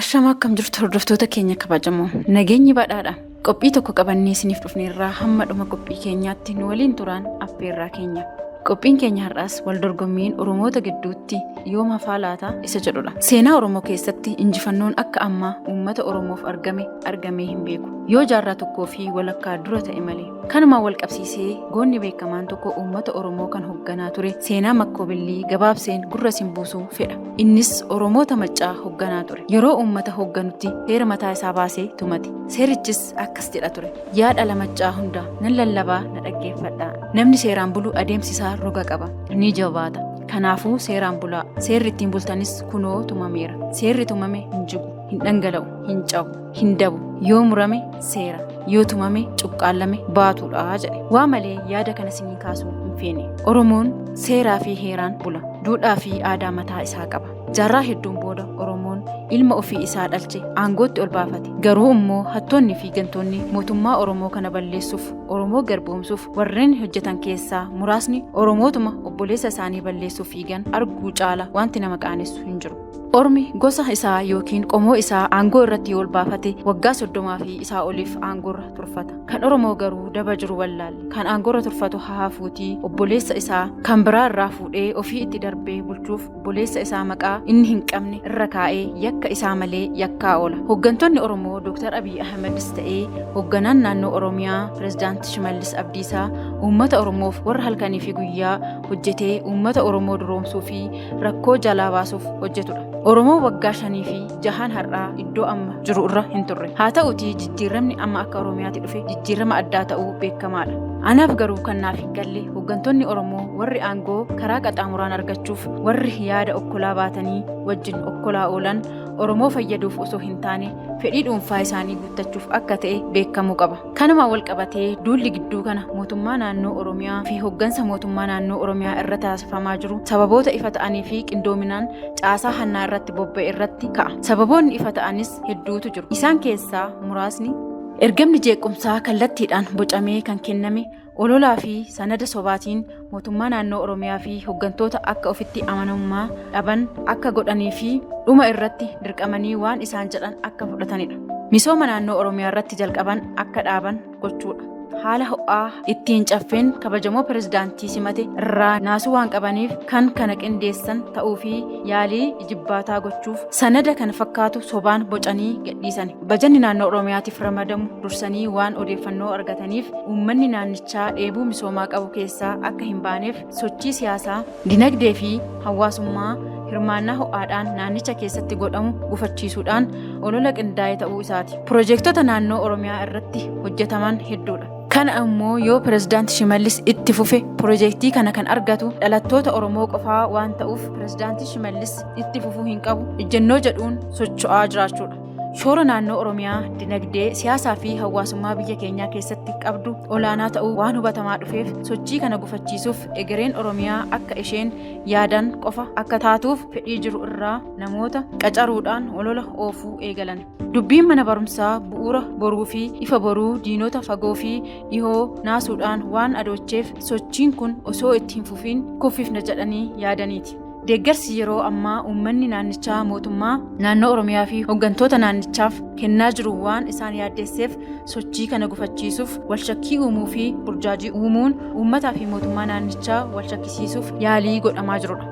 Ashama akkam jirtu hordoftoota keenya kabajamoo nageenyi badhaadha qophii tokko qabannee isiniif dhufneerraa hamma dhuma qophii keenyaatti nu waliin turaan affeerraa keenya qophiin keenya har'aas wal dorgommiin oromoota gidduutti yoom hafaa laata isa jedhudha seenaa oromoo keessatti injifannoon akka ammaa uummata oromoof argame argamee hin beeku yoo jaarraa tokkoo fi walakkaa dura ta'e malee kanumaan wal qabsiisee goonni beekamaan tokko uummata oromoo kan hoogganaa ture seenaa makkoobillii gabaabseen gurra isin buusuu fedha Innis Oromoota Maccaa hogganaa ture. Yeroo uummata hogganutti seera mataa isaa baasee tumate. Seerichis akkas jedha ture. Yaa dhala Maccaa hunda nan lallabaa na dhaggeeffadhaa. Namni seeraan bulu adeemsi isaa roga qaba. Ni jabaata. Kanaafuu seeraan bulaa. Seerri ittiin bultanis kunoo tumameera. Seerri tumame hin jigu, hin dhangala'u, hin cabu. hin dabu yoo murame seera yoo tumame cuqqaallame baatuudha jedhe waa malee yaada kana sinii kaasuu hin feene oromoon seeraa fi heeraan bula duudhaa fi aadaa mataa isaa qaba jaarraa hedduun booda oromoon ilma ofii isaa dhalche aangootti ol baafate garuu immoo hattoonni fi gantoonni mootummaa oromoo kana balleessuuf oromoo garboomsuuf warreen hojjetan keessaa muraasni oromootuma obboleessa isaanii balleessuuf fiigan arguu caala wanti nama qaanessu hin jiru Ormi gosa isaa yookiin qomoo isaa aangoo irratti yoo olbaafate waggaa soddomaa fi isaa oliif aangoorra turfata. Kan Oromoo garuu daba jiru wallaalle. Kan aangoorra turfatu hahaafuutii obboleessa isaa kan biraa irraa fuudhee ofii itti darbee bulchuuf obboleessa isaa maqaa inni hin qabne irra kaa'ee yakka isaa malee yakkaa oola. Hooggantoonni Oromoo Dr. Abiy Ahmedis ta'ee hoogganaan naannoo Oromiyaa Pireezidaant Shimallis Abdiisaa uummata Oromoof warra halkanii fi guyyaa hojjetee uummata Oromoo duroomsuu fi rakkoo jalaa baasuuf hojjetudha. Oromoo waggaa shanii fi jahaan har'aa iddoo amma jiru irra hin turre. Haa ta'utii jijjiiramni amma akka Oromiyaatti dhufe jijjiirama addaa ta'uu beekamaadha. Anaaf garuu kan naaf hin galle hooggantoonni Oromoo warri aangoo karaa qaxaamuraan argachuuf warri yaada okkolaa baatanii wajjin okkolaa oolan Oromoo fayyaduuf osoo hin taane fedhii dhuunfaa isaanii guuttachuuf akka ta'e beekamuu qaba. Kanumaan walqabatee duulli gidduu kana mootummaa naannoo Oromiyaa fi hoggansa mootummaa naannoo Oromiyaa irra taasifamaa jiru sababoota ifa ta'anii fi qindoominaan caasaa hannaa irratti bobba'e irratti ka'a. Sababoonni ifa ta'anis hedduutu jiru. Isaan keessaa muraasni ergamni jeequmsaa kallattiidhaan bocamee kan kenname Ololaa fi sanada sobaatiin mootummaa naannoo Oromiyaa fi hoggantoota akka ofitti amanamummaa dhaban akka godhanii fi dhuma irratti dirqamanii waan isaan jedhan akka fudhatanidha. Misooma naannoo Oromiyaa irratti jalqaban akka dhaaban gochuudha. Haala ho'aa ittiin caffeen kabajamoo pirezidaantii simate irraa naasuu waan qabaniif kan kana qindeessan ta'uu fi yaalii ijibbaataa gochuuf sanada kan fakkaatu sobaan bocanii gadhiisani. Bajanni naannoo Oromiyaatiif ramadamu dursanii waan odeeffannoo argataniif uummanni naannichaa dheebuu misoomaa qabu keessaa akka hin baaneef sochii siyaasaa, dinagdee fi hawaasummaa hirmaannaa ho'aadhaan naannicha keessatti godhamu gufachiisuudhaan olola qindaa'e ta'uu isaati. Piroojeektota naannoo Oromiyaa irratti hojjetaman hedduudha. Kana ammoo yoo pirezidaanti Shimallis itti fufe piroojeektii kana kan argatu dhalattoota Oromoo qofaa waan ta'uuf pirezidaanti Shimallis itti fufuu hin qabu ejjennoo jedhuun socho'aa jiraachuudha. Shoora naannoo Oromiyaa dinagdee, siyaasaa fi hawaasummaa biyya keenyaa keessatti qabdu olaanaa ta'uu waan hubatamaa dhufeef sochii kana gufachiisuuf egereen Oromiyaa akka isheen yaadan qofa akka taatuuf fedhii jiru irraa namoota qacaruudhaan olola oofuu eegalan. Dubbiin mana barumsaa bu'uura boruu fi ifa boruu diinota fagoo fi dhihoo naasuudhaan waan adoocheef sochiin kun osoo itti hin fufiin kuffifna jedhanii yaadaniiti. Deeggarsi yeroo ammaa uummanni naannichaa mootummaa naannoo Oromiyaa fi hooggantoota naannichaaf kennaa jiru waan isaan yaaddeesseef sochii kana gufachiisuuf walshakkii uumuu fi burjaajii uumuun uummataa fi mootummaa naannichaa walshakkisiisuuf yaalii godhamaa jirudha.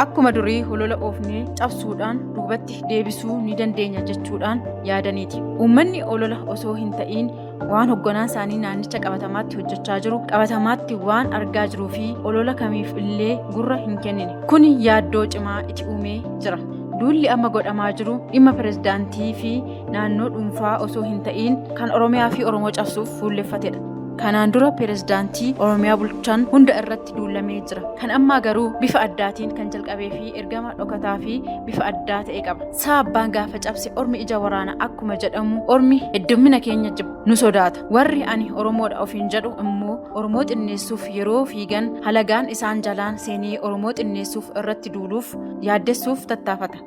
Akkuma durii holola oofnee cabsuudhaan duubatti deebisuu ni dandeenya jechuudhaan yaadaniiti. Uummanni holola osoo hin ta'iin waan hogganaa isaanii naannicha qabatamaatti hojjechaa jiru qabatamaatti waan argaa jiruu fi olola kamiif illee gurra hin kennine kun yaaddoo cimaa itti uumee jira duulli amma godhamaa jiru dhimma pirezidaantii fi naannoo dhuunfaa osoo hin ta'iin kan oromiyaa fi oromoo cabsuuf fuulleffatedha kanaan dura pirezidaantii oromiyaa bulchan hunda irratti duulamee jira kan ammaa garuu bifa addaatiin kan jalqabee fi ergama dhokataa fi bifa addaa ta'e qaba saa abbaan gaafa cabse ormi ija waraana akkuma jedhamu ormi heddummina keenya jibba nu sodaata warri ani oromoodha ofiin jedhu immoo oromoo xinneessuuf yeroo fiigan halagaan isaan jalaan seenee oromoo xinneessuuf irratti duuluuf yaaddessuuf tattaafata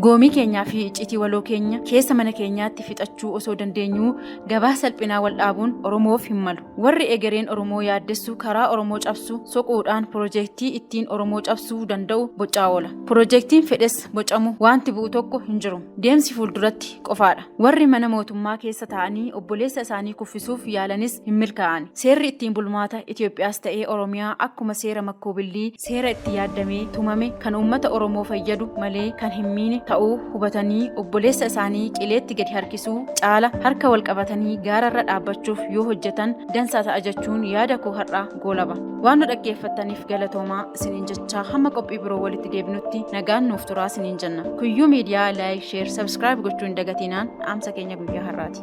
goomii keenyaa fi iccitii waloo keenya keessa mana keenyaatti fixachuu osoo dandeenyuu gabaa salphinaa wal dhaabuun oromoof hin malu warri egereen oromoo yaaddessu karaa oromoo cabsu soquudhaan piroojeektii ittiin oromoo cabsuu danda'u bocaa oola piroojeektiin fedhes bocamu wanti bu'u tokko hin jiru. Deemsi fuulduratti qofaadha. Warri mana mootummaa keessa taa'anii obboleessa isaanii kuffisuuf yaalanis hin milkaa'an. Seerri ittiin bulmaata Itoophiyaas ta'ee Oromiyaa akkuma seera makkuubillii seera itti yaaddamee tumame kan uummata Oromoo fayyadu malee kan hin miine ta'uu hubatanii obboleessa isaanii qileetti gadi harkisuu caala harka wal qabatanii gaararra dhaabbachuuf yoo hojjetan dansaa ta'a jechuun yaada koo har'aa goolaba. Waan nu dhaggeeffattaniif galatoomaa isiniin jechaa hamma qophii biroo walitti deebinutti nagaan nuuf turaa isiniin jenna. Kuyyuu miidiyaa laayik, sheer, sabskiraayib gochuu hin dagatinaan dhaamsa keenya guyyaa har'aati.